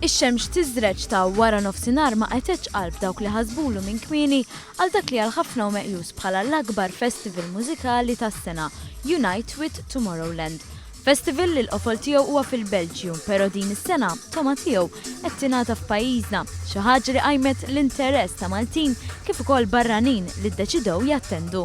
Ix-xemx tiżreġ ta' wara nofsinhar ma qegħtetx qalb dawk li ħasbulu minn kmieni għal dak li għal ħafna hu meqjus bħala l-akbar festival mużikali tas-sena, Unite with Tomorrowland. Festival li l-qofol tiegħu huwa fil-Belġju, però din is-sena togħma tiegħu qed tingħata f'pajjiżna, xi ħaġa li qajmet l-interess ta' Maltin kif ukoll barranin li ddeċidew jattendu.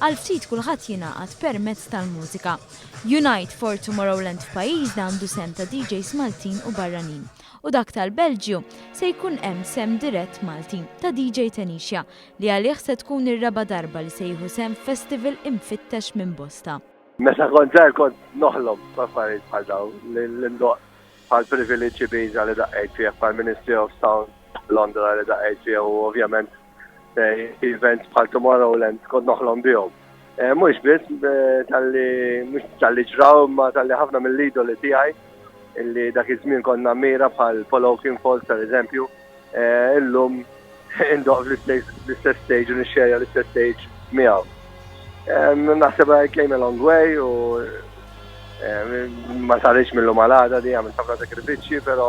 Għal ftit kulħadd jingħaqad permezz tal-mużika. Unite for Tomorrowland f'pajjiżna għandu sehem ta' DJs Maltin u barranin. U dak tal-Belġju se jkun hemm sehem dirett Malti ta' DJ Tenixia li għalih se tkun ir-raba' darba li se jieħu sehem f'festival imfittex minn bosta. Meta kont żgħir kont noħlom b'affarijiet bħal dawn, li ndoqq bħall-privileġġ Ibiza li daqqejt fih, bħall-Ministry of Sound Londra li daqqejt fih u ovvjament, events bħal Tomorrowland kont noħlom bihom. Eh, mhux biss eh, tal-li mhux tal-li ġraw ma tal-li ħafna mill-idoli tiegħi illi dak iż-żmien konna mira bħal Polo King Falls per eżempju, eh, illum indoq l-istess stage u nixxerja l-istess stage miegħu. Naħseb I came a long way u ma sarriċ mill-lum għal-għada di għamil ħafna sakrifiċċji, pero